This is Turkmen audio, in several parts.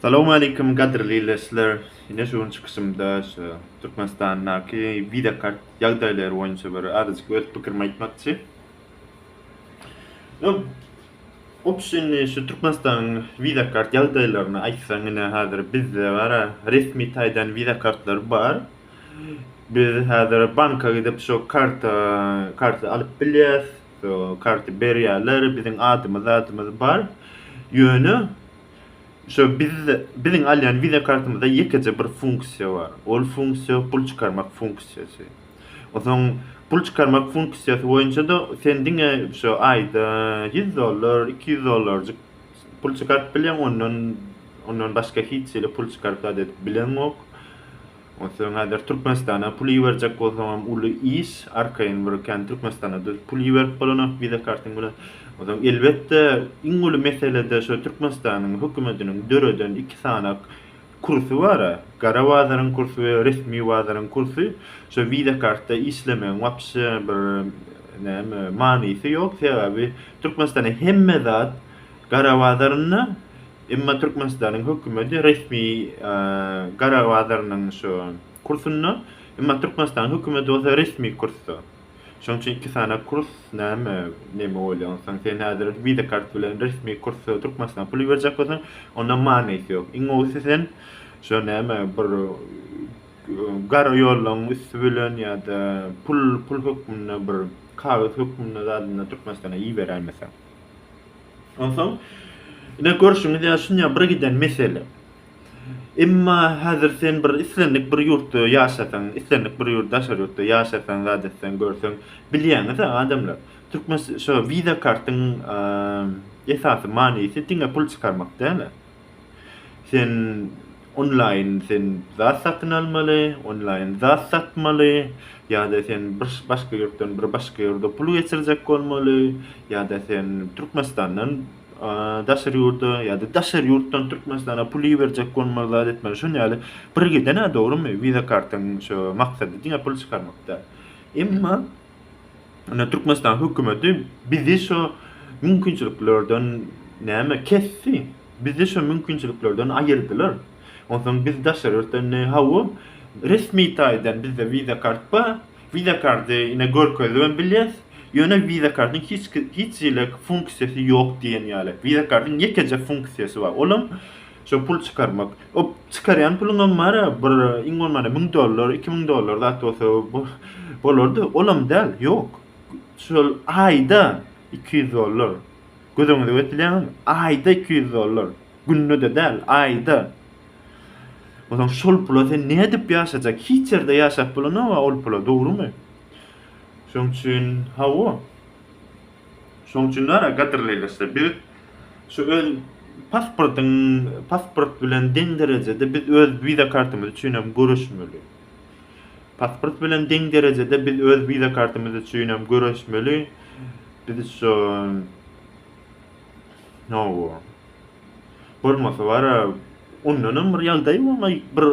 Salowmaleýkim gadyrly leşler! Ine şu gün çykyşymda şu Türkmenistandaky Visa kart ýagdaýlary boýunça bir azajyk öz pikirimi aýtmakçy. Öň Opşy indi şu Türkmenistanyň Visa kart ýagdaýlaryny aýtsaň ine häzir bizde bara resmi taýdan Visa kartlary bar. Biz häzir banka gidip şu karty karty alyp bilýäs. Karty berýärler, biziň adymyz zadymyz bar. Ýöne şu biz biziň alýan wiza kartymyzda ýekeje bir funksiýa bar. Ol funksiýa pul çykarmak funksiýasy. Onsoň pul çykarmak funksiýasy boýunça-da sen diňe şu aýda ýüz dollar, iki ýüz dollarjyk pul çykaryp bilýäň, ondan ondan başga hiç hili pul çykaryp zat edip bileňok. Onsoň häzir Türkmenistana pul iberjek bolsaňam uly iş, arkaýyn bir kän Türkmenistana-da pul iberip bolanok wiza kartyň bilen. Onsoň elbetde iň uly mesele-de şu Türkmenistanyň hökümetiniň döreden iki sanak kursy bar-a, gara bazaryň kursy we resmi bazaryň kursy. Şu wiza kartda işlemegiň wapşe bir näme manysy ýok, sebäbi Türkmenistana hemme zat gara bazarynda, Emma Türkmenistanyň hökümeti resmi gara bazarynyň şu kursunda, emma Türkmenistanyň hökümeti bolsa resmi kursda. Şonuň üçin iki sany kurs näme, näme bolýar? Onsoň sen häzir Visa kart bilen resmi kursa Türkmenistana pul iberjek bolsaň, onda manysy ýok. Iň gowusy sen şu näme bir gara ýollaryň üsti bilen ýa-da pul, pul hökmünde bir kagyz hökmünde zadynda Türkmenistana iberäýmeseň. Onsoň ine görşüňiz ýaly şunyň bir giden mesele. Emma häzir sen bir islendik bir ýurtda ýaşasaň, islendik bir ýurt daşary ýurtda ýaşasaň, zat etseň, görseň, bilýäňiz-ä adamlar. Türkmen şo wiza kartyň esasy manysy diňe pul çykarmak däl-ä. Sen onlaýyn sen zat satyn almaly, onlaýyn zat satmaly, ýa-da sen bir başga ýurtdan bir başga ýurda pul geçirjek bolmaly, ýa-da sen Türkmenistandan daşary ýurda, ýa-da daşary ýurtdan Türkmenistana pul iberjek bolmaly, zat etmeli. Şuny ýaly bir giden-ä, dogrumy? Visa kartyň şo maksady diňe pul çykarmak däl. Emma Ine Türkmenistan hökümeti bizi şo mümkinçiliklerden näme kesdi. Bizi şo mümkinçiliklerden aýyrdylar. Onsoň biz daşary ýurtdan ine hawa resmi taýdan bizde wiza kart bar. Wiza karty ine görkezibem bilýäs. Ýöne wiza kartyň hiç hiç hili funksiýasy ýok diýen ýaly. Wiza kartyň ýekeje funksiýasy bar. Olam Şo pul çykarmak. O çykarýan puluňam bar-a, bir iň bolmanda müň dollar, iki müň dollar zat bolsa bolardy. Olam däl, ýok. Şol aýda iki ýüz dollar. Göz öňüňize getirýäňizmi? Aýda iki ýüz dollar. Günde-de däl, aýda. Onsoň şol pula sen nädip ýaşajak? Hiç ýerde ýaşap bolanok-a ol pula, dogrumy? Şoň üçin, hawa. Şoň üçin bar-a, gadyrly ildeşler, biz şu öz pasportyň, pasport bilen deň derejede biz öz wiza kartymyz üçin hem göreşmeli. Pasport bilen deň derejede biz öz wiza kartymyz üçin hem göreşmeli. Biz şu Nowo. Bolmasa bar-a, ondan hem bir ýagdaý bolmaý, bir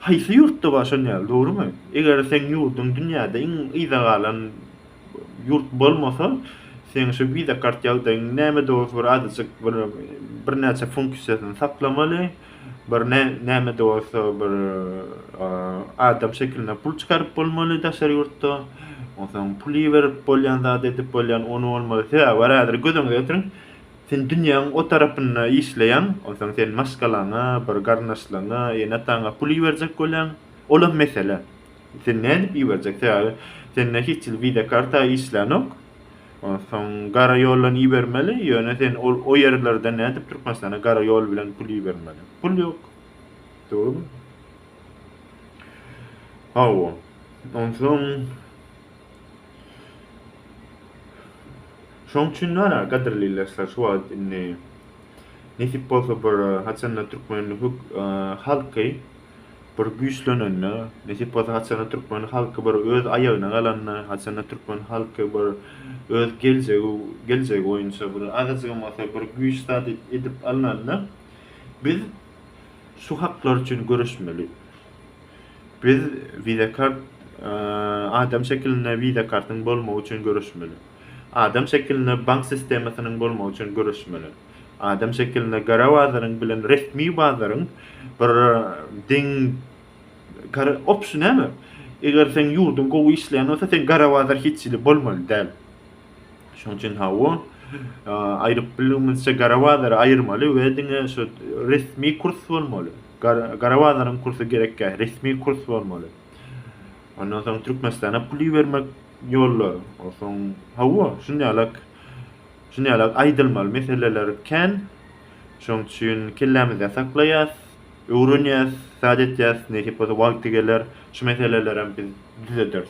haýsy ýurtda bar şon ýaly, dogrumy? Eger seň ýurduň dünýäde iň yza galan Ýurt bolmasa, seň şu visa kart ýagdaýyň näme dost bir azajyk bir birnäçe funksiýasyny saklamaly, bir näme-näme-de bolsa bir adam şekilinde pul çykaryp bolmaly daşary ýurtda. Onsoň pul iberip bolýan zat edip bolýan ony bolmaly. Sebäbi bar häzir göz öňüňde getiriň. Sen dünýäň o tarapynda işleýäň, onsoň sen maşgalaňa, bir garyndaşlaryňa, ene-ataňa pul iberjek bolýaň. Olam mesele. Sen nädip iberjek sebäbi sende hiç hili visa karta işlänok. Onsoň gara ýoldan ibermeli, ýöne sen ol o ýerlerden nädip Türkmenistana gara ýol bilen pul ibermeli. Pul ýok. Dogrumy? Hawa. Onsoň Şoň üçin nara gadyrly ildeşler şu wagt indi nesip bolsa bir haçanda türkmen halky Bir güýçlenende, nesip bolsa haçanda türkmen halky bir öz aýagyna galanda, haçanda türkmen halky bir öz geljegi geljegi boýunça bir azajygam bolsa bir güýç zat edip alnanda, biz şu haklar üçin göreşmeli. Biz wiza kart adam şekilinde wiza kartyň bolmagy üçin göreşmeli. Adam şekilinde bank sistemasynyň bolmagy üçin göreşmeli. Adam şekilinde gara bazaryň bilen resmi bazaryň bir deň gara opşy näme? Eger seň ýurduň gowy işleýän bolsa seň gara bazar hiç hili bolmaly däl. Şoň üçin hawa aýryp bildigimizçe gara bazary aýyrmaly we diňe şu resmi kurs bolmaly. Gara bazaryň kursy gerekgähi resmi kurs bolmaly. Ondan soň Türkmenistana pul ibermek ýollary. Onsoň hawa şunýalak Şuny ýaly aýdylmaly meseleler kän. Şoň üçin kellämizde saklaýas, öwrenýäs, zat etýäs, nesip bolsa wagty geler şu meselelerem biz düzederis.